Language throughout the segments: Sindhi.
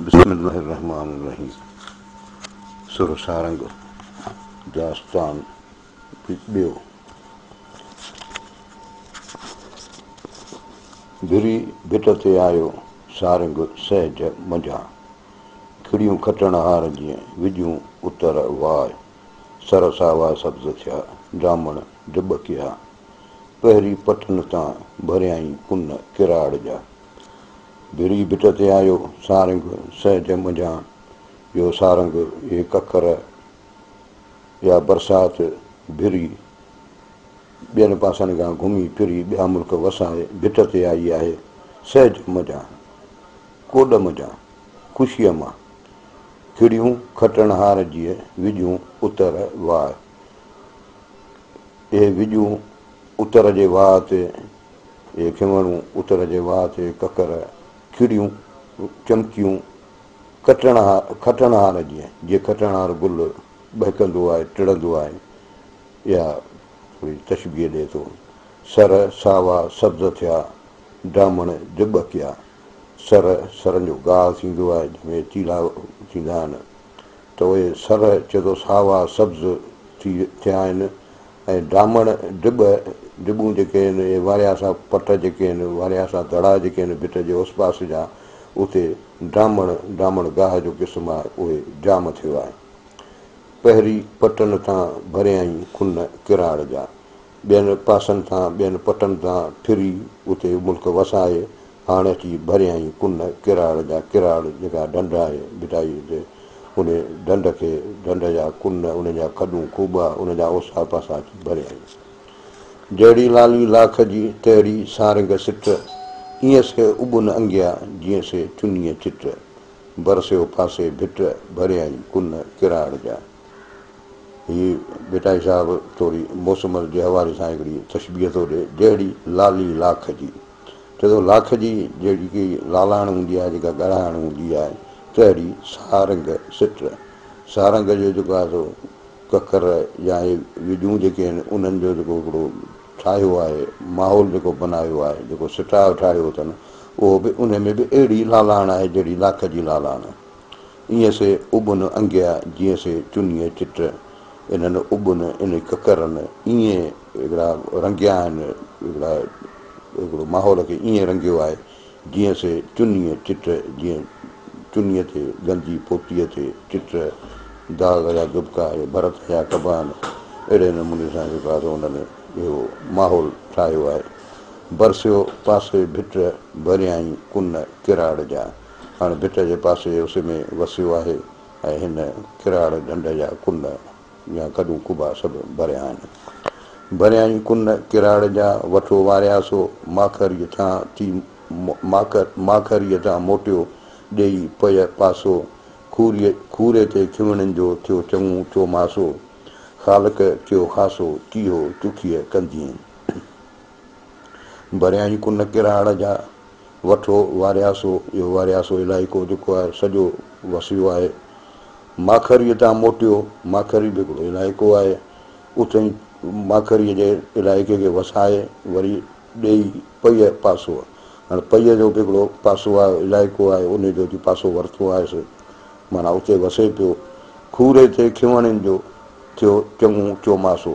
بسم الله الرحمٰن الرحيم سر سارنگ داستان ٻيو ڀري ڀٽ تي آيو سارنگ سهج منجهان کڙيون کٽڻ هار جيئن وڄون اتر واء سر ساوا سبز ٿيا جامڻ ڊٻڪيا پهري پٺن تان ڀريائين ڪن ڪراڙ جا ڌري ڀت تي آيو سارنگ، سهج منجهان يو سارنگ، اهي ڪڪر يا برسات ڀري، ٻين پاسن کان گهمي ڦري ٻيا ملڪ وسائي ڀت تي آئي آهي، سهج منجهان، ڪوڏ منجهان، خوشيء مان، کڙيون کٽڻهار جيء وڄون اتر واء، اهي وڄون اتر جي واء تي، اهي کنوڻون، اتر جي واهه تي ڪڪر، کڙيون، چمڪيون، کٽڻهار جيئن جي کٽڻهار گل ٻهڪندو آهي، ٽڙندو آهي، اها ٿوري تشبيهه ڏئي ٿو. سر، ساوا، سبز ٿيا، ڊامڻ، جٻ ڪيا. سر، سرن جو گاهه ٿيندو آهي، جنهن ۾ تيلها ٿيندا آهن، ته اهي سر چئجو ساوا، سبز، ٿي ٿيا آهن، ۽ ڊامڻ ڊٻ ڊٻون جيڪي آهن اهي واريا سا پٽ جيڪي آهن واريا سا دڙا جيڪي آهن ڀت جي اوس پاس جا اتي ڊامڻ ڊامڻ گاهه جو قسم آهي اهي جام ٿيو آهي پهري پٽن تان ڀريائين کن ڪراڙ جا ٻين پاسن تان ٻين پٽن تان ڦري اتي ملڪ وسائي هاڻ اچي ڀريائين ڪن ڪراڙ جا ڪراڙ جيڪا ڍنڍ آهي ڀٽائي تي ان ڍنڍ کي ڍنڍ جا ڪن ان جا کڏون کوٻا ان جا اوسا پاسا اچي ڀريائين جهڙي لالي لاک جي تهڙي سارنگ سٽ ايئن سي اٻن انگيا جيئن سي چنيء چٽ برسيو ڦاسي ڀٽ ڀريائين ڪن ڪراڙ جا هي ڀٽائي صاحب ٿوري موسم جي حوالي سان هڪڙي تشبيهه ٿو ڏي جهڙي لالي لاک جي چئي ٿو لاک جي جيڪي لالهاڻ هوندي آهي جيڪا ڳڙهاڻ هوندي آهي تهڙي سارنگ سٽ سارنگ جو جيڪو آهي سو ڪڪر يا هي وڄون جيڪي آهن انهن جو جيڪو هڪڙو ٺاهيو آهي ماحول جيڪو بنايو آهي جيڪو سٽاء ٺاهيو اٿن اهو به ان ۾ به اهڙي لالهاڻ آهي جهڙي لاک جي لالهاڻ ايئن سي اڀن انگيا جيئن سي چنيء چٽ، انهن اڀن ان ڪڪرن ايئن هڪڙا رنگيا آهن، هڪڙا هڪڙو ماحول کي ايئن رنگيو آهي، جيئن سي چنيء چٽ، جيئن چنيء تي گندي پوتيء تي چٽ، داغ يا دٻڪا يا ڀرت هنيا ڪبا آهن، اهڙي نموني سان جيڪو آهي سو انهن اهو ماحول ٺاهيو آهي. برسيو پاسي ڀٽ، ڀريائين ڪن ڪراڙ جا. هاڻ ڀٽ جي پاسي جي اسي ۾ وسيو آهي ۽ هن ڪراڙ ڍنڍ جا ڪن يا ڪڏون ڪبا سڀ ڀريا آهن. ڀريائين ڪن ڪراڙ جا وٺو واريا سو ماکريء تان ٿي ماکريء تان موٽيو ڏيئي پئي پاسو کوري کوري تي کيوڻين جو ٿيو چڱو چوماسو خالق ٿيو خاصو چيهو چکيء ڪنڌيين ڀريان ئي ڪن ڪراڙ جا وٺو وارياسو، اهو وارياسو علائقو جيڪو آهي سڄو وسيو آهي. ماکريء تان موٽيو، ماکري به هڪڙو علائقو آهي، اٿئين ماکريء جي علائقي کي وسائي وري ڏيئي پيء پاسو، هاڻي پيء جو به هڪڙو پاسو آهي، علائقو آهي، انهي جو جي پاسو ورتو آهيس، معنيٰ اتي وسي پيو. کوري تي کهوڻين جو ٿيو چڱو چوماسو.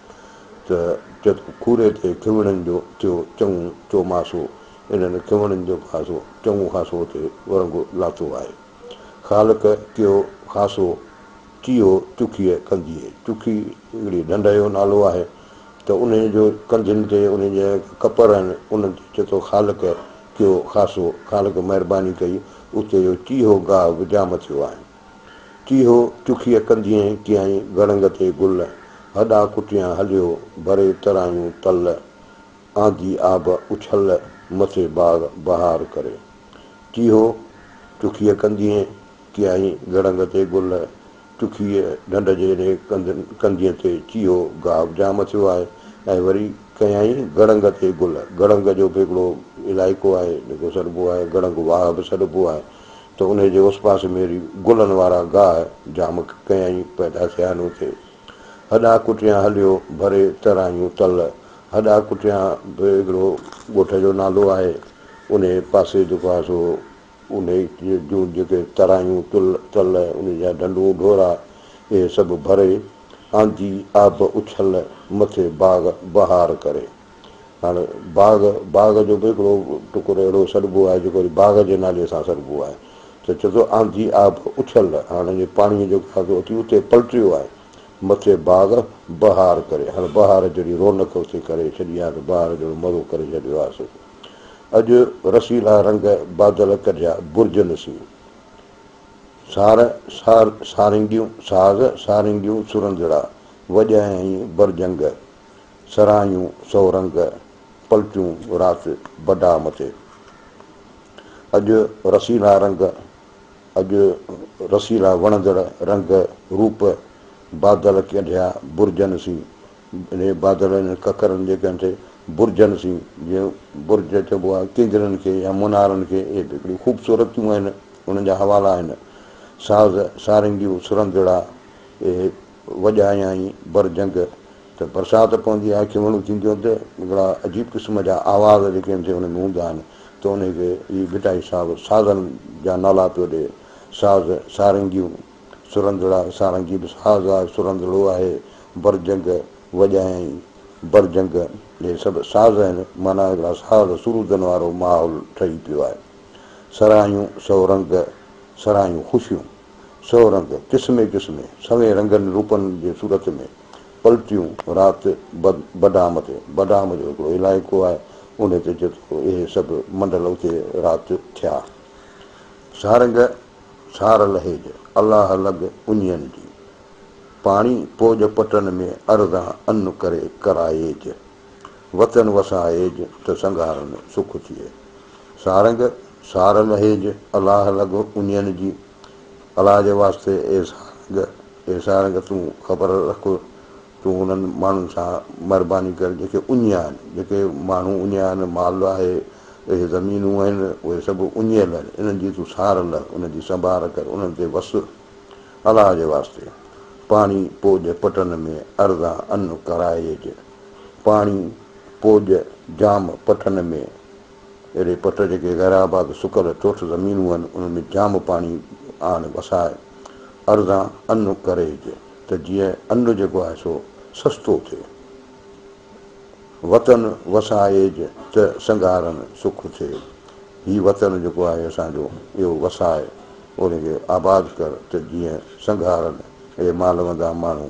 ته چت کوري تي کهوڻن جو ٿيو چڱو چوماسو. انهن کهوڻن جو خاصو چڱو خاصو تي ورنگو لاٿو آهي. خالق ڪيو خاصو چيو چکيء ڪنڌيء. چکي هڪڙي ڍنڍ جو نالو آهي ته انهيء جو ڪنڌين تي انهيء جا جيڪي ڪپر آهن انهن تي چئي ٿو خالق ڪيو خاصو، خالق مهرباني ڪئي، اتي جو چيهو گاهه به جام ٿيو آهن. ڪي هو چکيء ڪنڌيئين ڪيائين گڙنگ تي گل هڏا ڪٽيان هليو ڀري ترايون تل آندي آب اڇل مٿي باغ بهار ڪري ڪي هو چکيء ڪنڌيئين ڪيائين گڙنگ تي گل چکيء ڍنڍ جي ري ڪنڌيء تي چيهو گاهه به جام اٿيو آهي ۽ وري ڪيائين گڙنگ تي گل گڙنگ جو به هڪڙو علائقو آهي جيڪو سڏبو آهي گڙنگ واهه به سڏبو آهي ته انهيء جي اس پاسي ۾ اهڙي گلن وارا گاهه جام ڪيائين پيدا ٿيا آهن اتي هڏا ڪٽيان هليو ڀري ترايون تل هڏا ڪٽيان به هڪڙو ڳوٺ جو نالو آهي انهيء پاسي جيڪو آهي سو انهيء جون جيڪي ترايون تل تل انهيء جا ڍنڍون ڍورا اهي سڀ ڀري آندي آب اڇل مٿي باغ بهار ڪري هاڻ باغ، باغ جو به هڪڙو ٽڪر اهڙو سڏبو آهي جيڪو وري باغ جي نالي سان سڏبو آهي ته چئجو آنڌي آب اڇل هاڻ جي پاڻيء جو گهاگو اٿي اتي پلٽيو آهي مٿي باغ بهار ڪري هاڻ بهار جهڙي رونق اتي ڪري ڇڏي آهي ته بهار جهڙو مزو ڪري ڇڏيو آهي سو اڄ رسيلا رنگ بادل ڪڍيا برجن سين سار سار سارنگيون ساز سارنگيون سرندڙا وڄائين برجنگ سرهاڱيون سو رنگ، پلٽيون رات بڊاء مٿي. اڄ رسيلا رنگ، اڄ رسيلا وڻندڙ رنگ روپ، بادل ڪينڍيا برجن سين، اهي بادل انهن ڪڪرن جي ڪن تي برجن سين، جيئن برج چئبو آهي ڪينگرن کي يا منارن کي، اهي به هڪڙيون خوبصورتيون آهن، انهن جا حوالا آهن، ساز سارنگيون سرندڙا، اهي. وڄايائين بر جنگ ته برسات پوندي آهي کيوڻون ٿينديون آهن ته اهڙا عجيب قسم جا آواز جيڪي ان تي ان ۾ هوندا آهن ته انهي کي هي ڀٽائي صاحب سازن جا نالا پيو ڏئي ساز سارنگيون سرندڙا سارنگي به ساز آهي سرندڙو آهي بر جنگ وڄايائين بر جنگ اهي سڀ ساز آهن معنيٰ هڪڙا ساز سرودن وارو ماحول ٺهي پيو آهي سرايون سئو رنگ سرايون خوشيون. سو رنگ، قسمين قسمين، سوين رنگن روپن جي صورت ۾، پلتيون رات بڊام تي، بڊام جو هڪڙو علائقو آهي، انهي تي چيو ته اهي سڀ منڊل اتي رات ٿيا. سارنگ، سار لهيج، الله لڳ اڃين جي، پاڻي پوڄ پٽن ۾ ارزان ان ڪري ڪرائيج، وطن وسائيج ته سنگهارن سک ٿئي. سارنگ سار لهيج الاهه لڳو انين جي الاهه جي واسطي اي سارنگ اي سارنگ تون خبر رک تون انهن ماڻهن سان مهرباني ڪر جيڪي اڃيا آهن جيڪي ماڻهو اڃيا آهن مال آهي اهي زمينون آهن اهي سڀ اڃيل آهن انهن جي تون سار لهه انهن جي سنڀال ڪر انهن تي وس الاهه جي واسطي پاڻي پوڄ پٽن ۾ ارزان ان ڪرائج. پاڻي پوڄ جام پٽن ۾، اهڙي پٽ جيڪي غير آباد سڪل ٺوٺ زمينون هن، انهن ۾ جام پاڻي آڻ وساء، ارزان ان ڪريج ته جيئن ان جيڪو آهي سو سستو ٿئي، وطن وسائيج ته سنگهارن سک ٿئي، هي وطن جيڪو آهي اسان جو اهو وساء، انهي کي آباد ڪر ته جيئن سنگهارن اهي مالوندا ماڻهو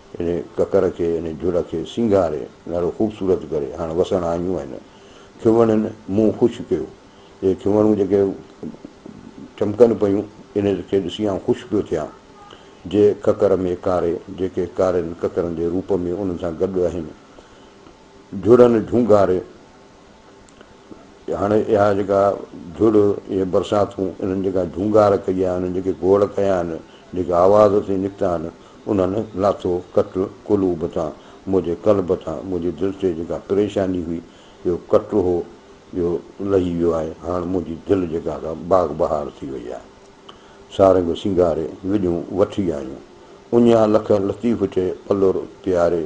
ان ڪڪر کي، ان جھڙ کي سينگاري، ڏاڍو خوبصورت ڪري، هاڻ وسڻ آڻيون آهن. کيووڻن منهن خوش ڪيو. اهي کيووڻون جيڪي چمڪن پيون، ان کي ڏسي آئون خوش پيو ٿيان. جي ڪڪر ۾ ڪاري، جيڪي ڪارين ڪڪرن جي روپ ۾ انهن سان گڏ آهن، جھڙن جھونگاري، هاڻي اها جيڪا جھڙ، اهي برساتون، انهن جيڪا جھونگار ڪئي آهي، انهن جيڪي گوڙ ڪيا آهن، جيڪي آواز ٿي نڪتا آهن، انهن لاٿو ڪٽ قلوب تان، منهنجي قلب تان، منهنجي دل تي جيڪا پريشاني هئي، جيڪو ڪٽ هو، اهو لهي ويو آهي، هاڻ منهنجي دل جيڪا سا باغ بهار ٿي وئي آهي. سارنگ سينگاري، وڄون وٺي آيون، اڃا لک لطيف چئي پلور پياري،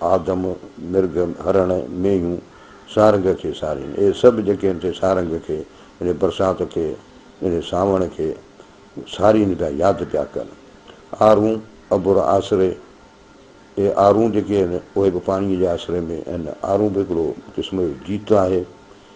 آدم، مرغ، هرڻ، مينهيون سارنگ کي سارين. اهي سڀ جيڪي ان تي سارنگ کي، ان برسات کي، ان سانوڻ کي سارين پيا، ياد پيا ڪن. آرون، ابر آسري، اهي آرون جيڪي آهن، اهي به پاڻيء جي آسري ۾ آهن. آرون به هڪڙو قسم جو جيت آهي،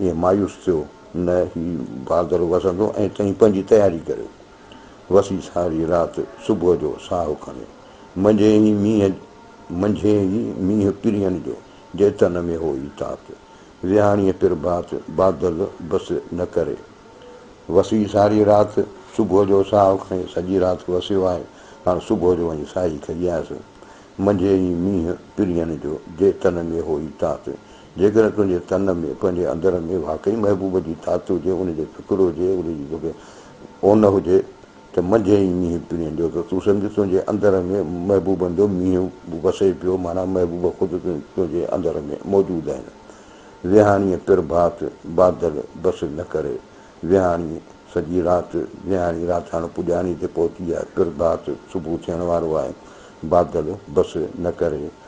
ائين مايوس ٿيو نه هي بهادر وسندو ۽ تنهن پنهنجي تياري ڪريو. وسي ساري رات صبح جو ساهو کڻي منجهين ئي مينهن منجهين ئي مينهن پرين جو جي تن ۾ هو ئي تات ويهاڻيء پرڀات بادل بس نه ڪري. وسي ساري رات صبح جو ساهو کڻي سڄي رات وسيو آهي هاڻ صبح جو وڃي ساهي کڄيانس. منجهين ئي مينهن پرين جو جي تن ۾ هو ئي تات جيڪڏهن تنهنجي تن ۾ تنهنجي اندر ۾ واقعي محبوب جي تات هجي، ان جو فڪر هجي، ان جي توکي اون هجي ته منجهين ئي مينهن پڻين جو ته تون سمجهه تنهنجي اندر ۾ محبوبن جو مينهن وسي پيو معنيٰ محبوب خود تنهنجي اندر ۾ موجود آهن ويهاڻي پرڀات بادل بس نه ڪري ويهاڻي سڄي رات ويهاڻي رات هاڻ پڄاڻي تي پهتي آهي پرڀات صبح ٿيڻ وارو آهي بادل بس نه ڪري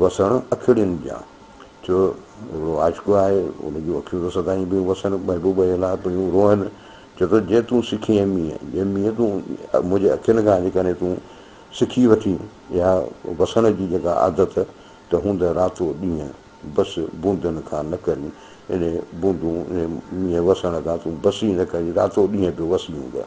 وسڻ اکيڙين جا، ٿيو هڪڙو عاشق آهي، ان جون اکيون ته سدائين پيون وسن، محبوب جي لاء پيون روئن، چئي ٿو جي تون سکين اي مينهن، اي مينهن تون منهنجي اکين کان جيڪڏهن تون سکي وٺين اها وسڻ جي جيڪا عادت ته هوندء راتو ڏينهن بس بوندن کان نه ڪرين، انهي بوندون انهي مينهن وسڻ کان تون بس ئي نه ڪرين، راتو ڏينهن به وسي هوندء.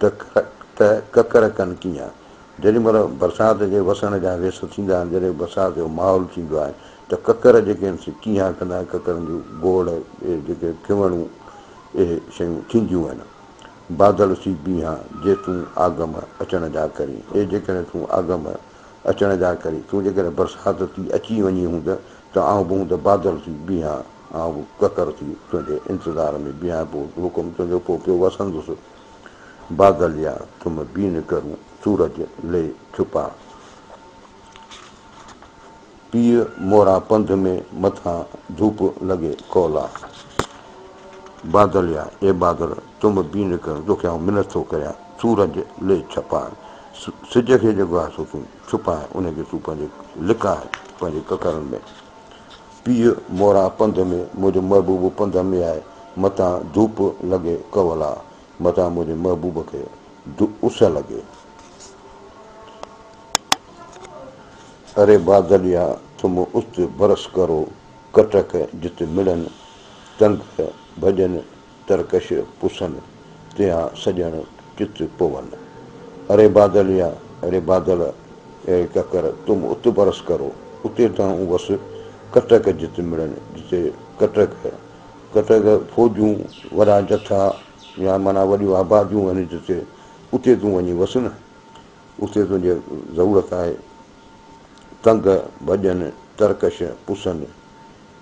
ته ڪڪر ڪن ڪيئن؟ جيڏي مھل برسات جي وسڻ جا ويس ٿيندا آھن، جڏھن برسات جو ماحول ٿيندو آھي ته ڪڪر جيڪي آھن سي ڪيھان ڪندا آھن، ڪڪرن جون گوڙ، اھي جيڪي کھوڻيون، اھي شيون ٿينديون آھن. بادل سي بيھان، جي تون آگم اچڻ جا ڪرين، اي جيڪڏھن تون آگم اچڻ جا ڪرين، تون جيڪڏھن برسات ٿي اچي وڃين ھوند ته آئون به ھوند بادل ٿي بيھان، آئون به ڪڪر ٿي تنهنجي انتظار ۾ بيهان پيو حڪم تنهنجو پوء پيو وسندس بادل يا تم بين ڪرون سورج لي ڇپا پيء موران پنڌ ۾ مٿان ڌوپ لڳي ڪولا بادل يا اي بادل تم بين ڪرون توکي آئون منت ٿو ڪريان سورج لي ڇپا سج کي جيڪو آهي سو تون ڇپا ان کي تون پنهنجي لڪا پنهنجي ڪڪرن ۾ پيء موران پنڌ ۾، منهنجو محبوب پنڌ ۾ آهي، متان ڌوپ لڳي ڪولا، متان منهنجي محبوب کي اس لڳي. اري بادليا تم است برس ڪرو، ڪٽڪ جت مڙن، تنگ ڀڄن، ترڪش پسن، تيا سڄڻ چت پون. اري بادل يا ري بادل، اي ڪڪر تم ات برس ڪرو، اتي تائون وس ڪٽڪ جت مڙن جتي ڪٽڪ، ڪٽڪ فوجون، وڏا جٿا يا معنيٰ وڏيون آباديون آهن جتي، اتي تون وڃي وس نه، اتي تنهنجي ضرورت آهي. تنگ، ڀڄن، ترڪش پسن.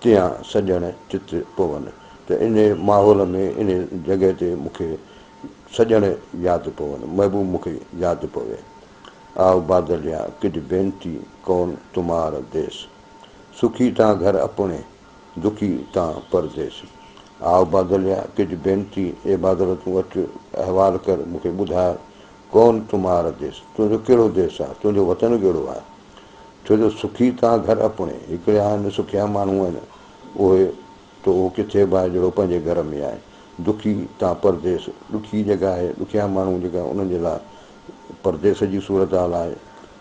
تيئان سڄڻ چت پون، ته انهيء ماحول ۾، انهيء جڳهه تي مون کي سڄڻ ياد پون، محبوب مون کي ياد پوي. آء بادل يا ڪج بينتي ڪون تمار ديس. سکي تان گهر اپڻي، دکي تان پرديس. آء بادل يا ڪج بينتي، اي بادل تون اچ احوال ڪر مون کي ٻڌاء، ڪون تمار ديس، تنهنجو ڪهڙو ديس آ، تنهنجو وطن ڪهڙو آ؟ ڇو جو سکي تان گهر اپڻي، هڪڙي آهن سکيا ماڻهو آهن اهي، تو اهو ڪٿي باهه جهڙو پنهنجي گهر ۾ آهين، دکي تان پرديس، ڏکي جڳهه آهي، ڏکيا ماڻهو جيڪا انهن جي لاء پرديس جي صورتحال آهي،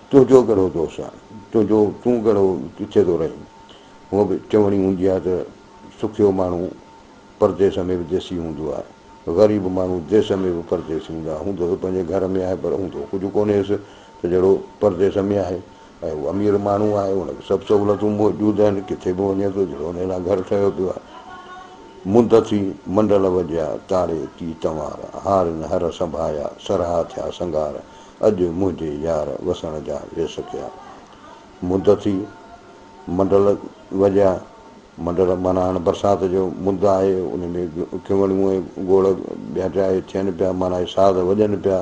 تنهنجو ڳڙهو دوست آهن، تنهنجو تون ڳڙهو ڪٿي ٿو رهين، هونء به چوڻي هوندي آهي ته سکيو ماڻهو پرديس ۾ به ديسي هوندو آهي. غريب ماڻهو ديس ۾ به پرديس هوندا آهي. هوندو ته پنهنجي گهر ۾ آهي پر هوندو ڪجهه ڪونهيس ته جهڙو پرديس ۾ آهي ۽ هو امير ماڻهو آهي ان کي سڀ سهولتون موجود آهن ڪٿي به وڃي ٿو جهڙو ان لاء گهر ٺهيو پيو آهي. منڌ ٿي منڊل وڄيا تاڙي ڪي تنوار هارين هر سنڀايا سرها ٿيا سنگار اڄ منهنجي يار وسڻ جا ويس ڪيا منڌ ٿي منڊل وڄيا. مدر معنيٰ هاڻ برسات جو مد آهي، ان ۾ ڪنوڙيون ۽ گوڙ ٻيا ٽيا اهي ٿين پيا، معنيٰ اهي ساز وڄن پيا.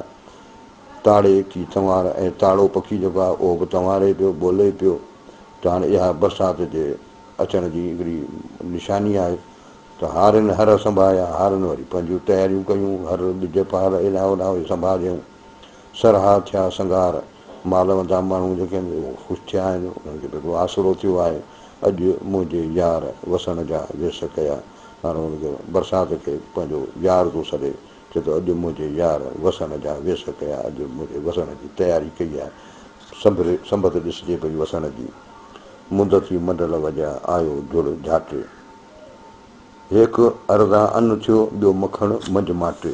تاڙي ڪي تنوار ۽ تاڙو پکي جيڪو آهي، اهو به تنواري پيو، ٻولي پيو ته هاڻ اها برسات جي اچڻ جي هڪڙي نشاني آهي ته هارين هر سنڀايا، هارين وري پنهنجيون تياريون ڪيون، هر ٻج پهر هيڏانهن هوڏانهن وئي سنڀاجيائون، سرها ٿيا سنگهار. مال متان ماڻهو جيڪي خوش ٿيا آهن، انهن کي ڏاڍو آسرو ٿيو آهي. اڄ منهنجي يار وسڻ جا ويس ڪيا. هاڻ هن کي برسات کي پنهنجو يار ٿو سڏي. چئي ٿو اڄ منهنجي يار وسڻ جا ويس ڪيا. اڄ منهنجي وسڻ جي تياري ڪئي آهي. سنڀري سنبت ڏسجي پئي وسڻ جي. مند ٿي منڊل وڄاء آيو جڙ جهاٽي. هيڪ ارزان ان ٿيو ٻيو مکڻ منجهه ماٽي.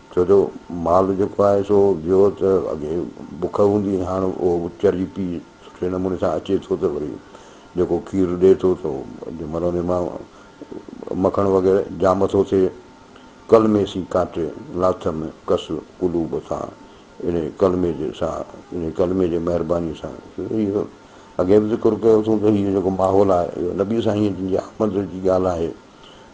ڇو جو مال جيڪو آهي سو ويو ته اڳي بک هوندي هئي هاڻ اهو به چري پي سٺي نموني سان اچي ٿو ته وري جيڪو کير ڏئي ٿو ته جنهن مهل ان مان مکڻ وغيره ڄام ٿو ٿئي. ڪلمي سين ڪانٽي لاٿ م ڪس قلوب سان انهي ڪلمي جي سان انهي ڪلمي جي مهرباني سان اڳي به ذڪر ڪيو اٿون ته هي جيڪو ماحول آهي اهو نبي سائين جن جي آمد جي ڳالهه آهي.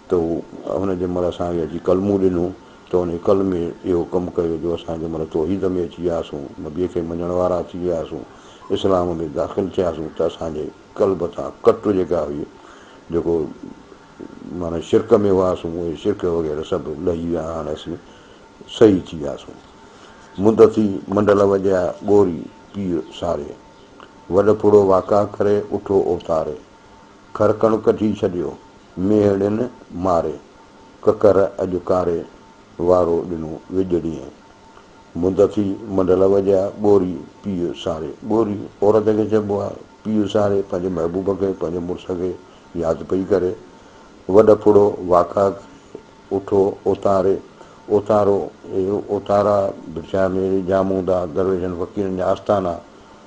ته هو هن جنهن مهل اسان کي اچي ڪلمو ڏنو ته ان ڪلمي اهو ڪم ڪيو جو اسان جنهن مهل توحيد ۾ اچي وياسون، نبيء کي مڃڻ وارا ٿي وياسون، اسلام ۾ داخل ٿياسون ته اسان جي قلب تان ڪٽ جيڪا هئي جيڪو معنيٰ شرڪ ۾ هئاسون اهي شرڪ وغيره سڀ لهي ويا هاڻ اسين صحيح ٿي وياسون. مند ٿي منڊل وڄايا ڳوري پير ساري وڏ ڦڙو واڪا ڪري اٺو اوتاري. کرڪڻ ڪڍي ڇڏيو، ميهڙين ماري، ڪڪر اڄ ڪاري، وارو ڏنو وڄڙيئي. مند ٿي منڍل وڄيا، ٻوري پيء ساري. ٻوري عورت کي چئبو آهي، پيء ساري پنهنجي محبوب کي، پنهنجي مڙس کي ياد پئي ڪري. وڏ ڦڙو واڪا ڪري، اٺو اوتاري، اوتارو، اهي اوتارا ڀٽجايا ميري جام هوندا، درويشن فقيرن جا آستانا،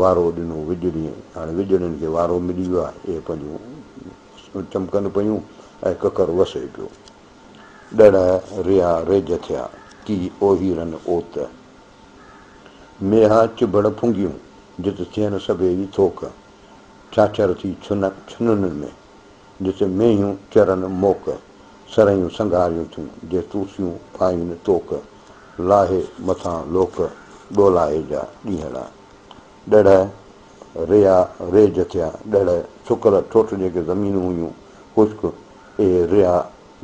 وارو ڏنو وڄڙي هاڻي وڄڙين کي وارو ملي ويو آهي اهي پنهنجون چمڪن پيون ۽ ڪڪر وسهي پيو ڏڙهه ريا ريج ٿيا ڪي اوهيرن اوت ميها چڀڙ ڦنگيون جت ٿين سڀيئي ٿوڪ ڇاڇر ٿي ڇنن ۾ جت مينهيون چرن موڪ، سرهيون سنگهاريون ٿيون، جي توسيون پائين توڪ، لاهي مٿان لوڪ، ڏولاهي جا ڏينهڙا. ڏڙهه، ريا، ريج ٿيا، ڏڙهه، سڪل ٺوٺ جيڪي زمينون هيون، خشڪ، اهي ريا،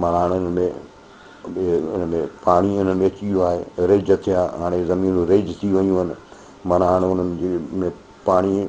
معنيٰ انهن ۾ ان ۾ پاڻي انهن ۾ اچي ويو آهي، ريج ٿيا، هاڻي زمينون ريج ٿي ويون آهن، معنيٰ هاڻي انهن ۾ پاڻي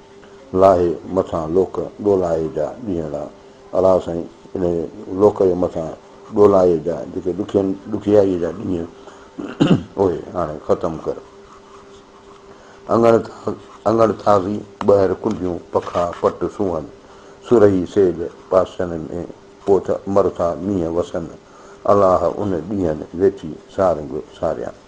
لاهي مٿان لوڪ ڏولائي جا ڏينهڙا الا سائين انهي لوڪ جي مٿان ڏولائي جا جيڪي ڏکين ڏکيائي جا ڏينهن اهي هاڻي ختم ڪر اڱڻ اڱڻ تازي ٻهر ڪنڊيون پکا پٽ سونهن سرهي سيج پاسن ۾ پوٿ مرٿا مينهن وسن الاهه ان ڏينهن ويٺي سارنگ ساريان.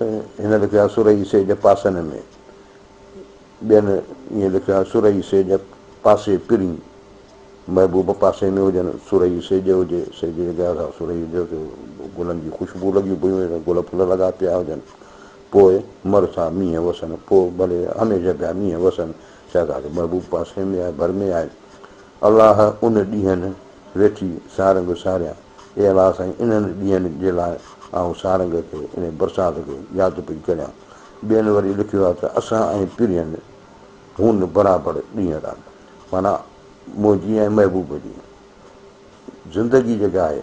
هن لکيو آهي سرهي سي جب پاسن ۾، ٻين ائين لکيو آهي سرهي سي جب پاسي پرين، محبوب پاسي ۾ هجن، سرهي سيڄ هجي، سيڄ جي جڳهه سان سرهي هجيو ته گلن جي خوشبو لڳيون پيون هجن، گل ڦل لڳا پيا هجن، پوء مر ٿا مينهن وسن، پوء ڀلي هميشه پيا مينهن وسن، شهزاد محبوب پاسي ۾ آهي، ڀر ۾ آهي، الله ان ڏينهن ويٺي سارنگ ساريان. اي الله سائين انهن ڏينهن جي لاء آئون سارنگ کي انهي برسات کي ياد پئي ڪريان. ٻين وري لکيو آهي ته اسان ۽ پرين هون برابر ڏينهن رات معنيٰ منهنجي ۽ محبوب جي زندگي جيڪا آهي.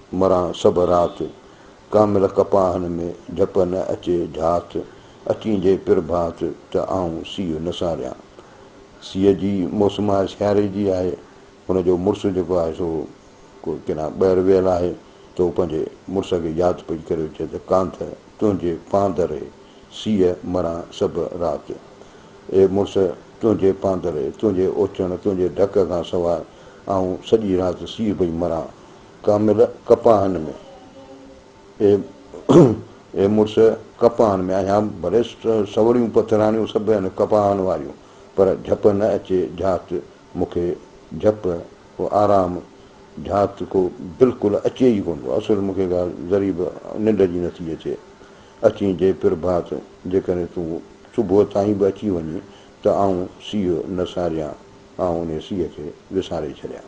مران سڀ رات، ڪامل ڪپاهن ۾، جهپ نه اچي جهات، اچين جي پرڀات، ته آئون سيء نه ساريان. سيء جي موسم آهي سياري جي آهي، هن جو مڙس جيڪو آهي سو ڪو ڪيڏانهن ٻاهر ويل آهي ته هو پنهنجي مڙس کي ياد پئي ڪريو چئي ته ڪانڌ تنهنجي پاندري سيء مران سڀ رات. اي مڙس تنهنجي پاندري، تنهنجي اوچڻ، تنهنجي ڍڪ کان سواء آئون سڄي رات سيء پئي مران، ڪامل ڪپاهن ۾، اي اي مڙس ڪپاهن ۾، اهيان ڀلي سوڙهيون پٿراڻيون سڀ هن ڪپاهن واريون، پر جهپ نه اچي جهات مون کي جهپ ڪو آرام جهات ڪو بلڪل اچي ئي ڪونه ٿو، اصل مون کي ڳالهه ذري به ننڊ جي نٿي اچي، اچين جي پرڀات، جيڪڏهن تون صبح تائين به اچي وڃين ته آئون سيء نه ساريان، آئون انهي سيء کي وساري ڇڏيان.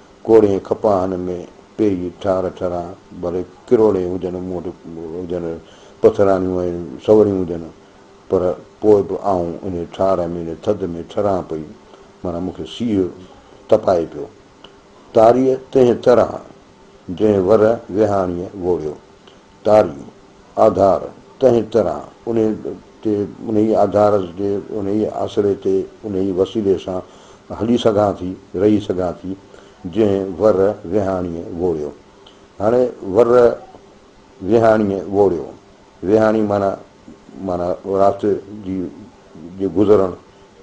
ڪوڙهين کپاهن ۾ پيئي ٺار ٺران، ڀلي ڪروڙين هجن مون وٽ هجن پٿرانيون ۽ سوريون هجن، پر پوء به آئون انهي ٺار ۾ انهي ٿڌ ۾ ٺران پئي، معنيٰ مون کي سيء تپائي پيو. تاريء تنهن طرح جنهن ور ويهاڻيء ووڙيو، تاريون، آڌار، تنهن طرح انهيء تي، انهيء آڌار جي، انهيء آسري تي، انهيء وسيلي سان هلي سگهان ٿي، رهي سگهان ٿي، جنهن ور ويهاڻيء ووڙيو. هاڻي ور ويهاڻيء ووڙيو. ويهاڻي معنيٰ، معنيٰ رات جي، جي گذرڻ،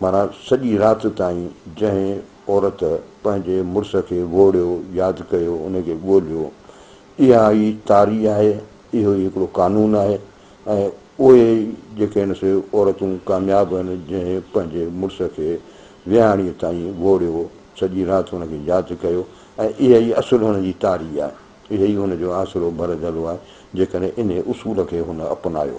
معنيٰ سڄي رات تائين جنهن عورت پنهنجي مڙس کي ووڙيو، ياد ڪيو، ان کي ڳوليو، اها ئي تاري آهي، اهو ئي هڪڙو قانون آهي ۽ اهي ئي جيڪي آهن سي عورتون ڪامياب آهن جنهن پنهنجي مڙس کي ويهاڻيء تائين ووڙيو، سڄي رات هن کي ياد ڪيو ۽ اها ئي اصل هن جي تاري آهي، اهي ئي هن جو آسرو ڀر جهلو آهي، جيڪڏهن انهي اصول کي هن اپنايو.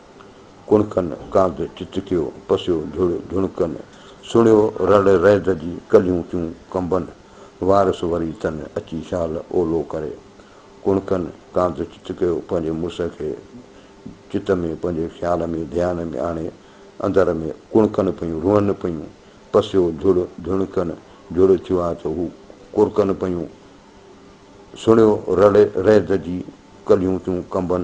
ڪڻڪن ڪانڌ چتڪيو، پسيو جھڙ جھڻڪن، سڻيو رڙ رئد جي، ڪليون ٿيون ڪنبن، وارث وري تن، اچي شال اولو ڪري. ڪڻڪن ڪانڌ چتڪيو، پنھنجي مڙس کي چت ۾ پنھنجي خيال ۾ ڌيان ۾ آڻي، اندر ۾ ڪڻڪن پيون، روئن پيون، پسيو جھڙ جھڻڪن، جھڙ ٿيو آ ته هو ڪرڪن پيون، سڻيو رڙ رئد جي، ڪليون ٿيون ڪنبن،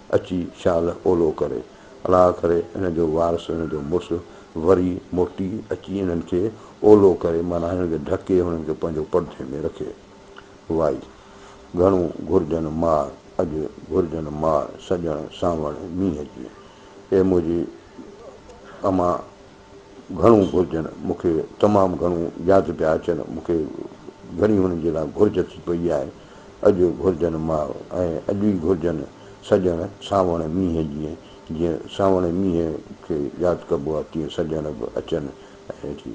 اچي شال اولو ڪري. الاء ڪري هن جو وارث هن جو مڙس وري موٽي اچي هنن کي اولو ڪري معنيٰ هنن کي ڍڪي هنن کي پنهنجو پرڌي ۾ رکي. وائي. گهڻو گهرجن مار اڄ گهرجن مار سڄڻ سانوڻ مينهن جي. اي منهنجي امان! گهڻو گهرجن مون کي تمام گهڻو ياد پيا اچن مون کي گهڻي هنن جي لاء گهرج ٿي پئي آهي اڄ گهرجن ماء ۽ اڄ ئي گهرجن سڄڻ سانوڻ مينهن جيئن جيئن سانوڻي مينهن کي ياد ڪبو آهي تيئن سڄڻ به اچن ۽ اچي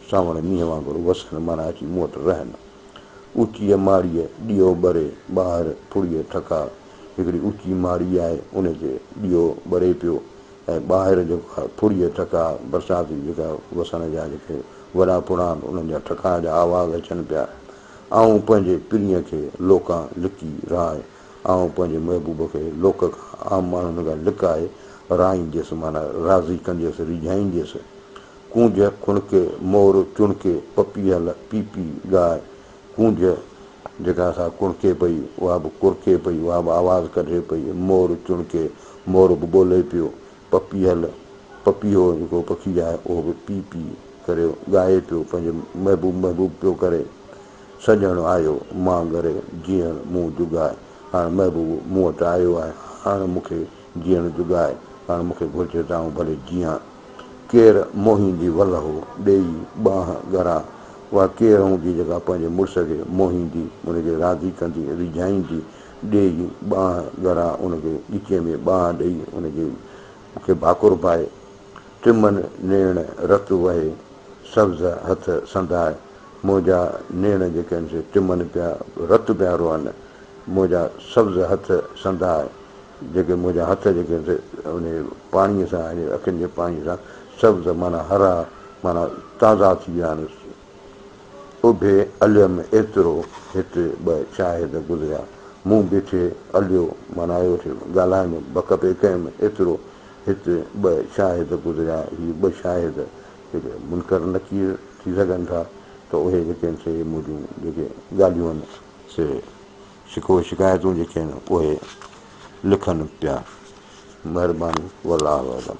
سانوڻي مينهن وانگر وسن معنيٰ اچي مون وٽ رهن اوچيء ماڙيء ڏيئو ٻري ٻاهر ڦڙي ٺڪاء هڪڙي اوچي ماڙي آهي انهي تي ڏيئو ٻري پيو ۽ ٻاهر جيڪا ڦڙي ٽڪا برسات جي جيڪا وسڻ جا جيڪي وڏا پڙا آهن انهن جا ٺڪاء جا آواز اچن پيا آئون پنهنجي پرينء کي لوڪان لڪي راء آئون پنهنجي محبوب کي لوڪ کان عام ماڻهن کان لڪائي رائينديس معنيٰ راضي ڪنديس ريجهائينديس ڪونج کڻڪي مور چڻڪي پپيهل پيپي ڳائي ڪونج جيڪا اسان ڪڻڪي پئي، اها به ڪرڪي پئي، اها به آواز ڪڍي پئي، مور چڻڪي، مور به ٻولي پيو، پپيهل، پپيهو جيڪو پکي آهي، اهو به پي پي ڪري ڳائي پيو، پنهنجي محبوب محبوب پيو ڪري، سڄڻ آيو مان گهري، جيئڻ مون جڳاء، هاڻ محبوب مون وٽ آيو آهي، هاڻ مون کي جيئڻ جڳاء، هاڻ مون کي گهرجي ته آئون ڀلي جيئان. ڪير موهين جي ولهه ڏيئي ٻانهه ڳرا اها ڪير هون جي جيڪا پنهنجي مڙس کي موهيندي، ان کي راضي ڪندي، ريجهائيندي، ڏيئي ٻانهه ڳرا ان کي ڳچيء ۾ ٻانهه ڏيئي ان جي کي ڀاڪر پائي، ٽمن نيڻ رت وهي، سبز هٿ سندائي، منهنجا نيڻ جيڪي آهن سي ٽمن پيا رت پيا روئن، منهنجا سبز هٿ سندائي. جيڪي منهنجا هٿ جيڪي انهي پاڻيء سان يعني اکين جي پاڻيء سان سبز معنيٰ هرا معنيٰ تازا ٿي ويا آهن. اڀي اليم ايترو هت ٻه شاهد گذريا. مون بيٺي اليو معنيٰ ويٺي ڳالهائڻ جو بک پئي ڪيم ايترو هت ٻه شاهد گذريا هي ٻه شاهد جيڪي منڪر نڪير ٿي سگهن ٿا ته اهي جيڪي آهن سي منهنجون جيڪي ڳالهيون آهن سي شڪوي شڪايتون جيڪي آهن اهي لکن پيا مهرباني والله اعلم.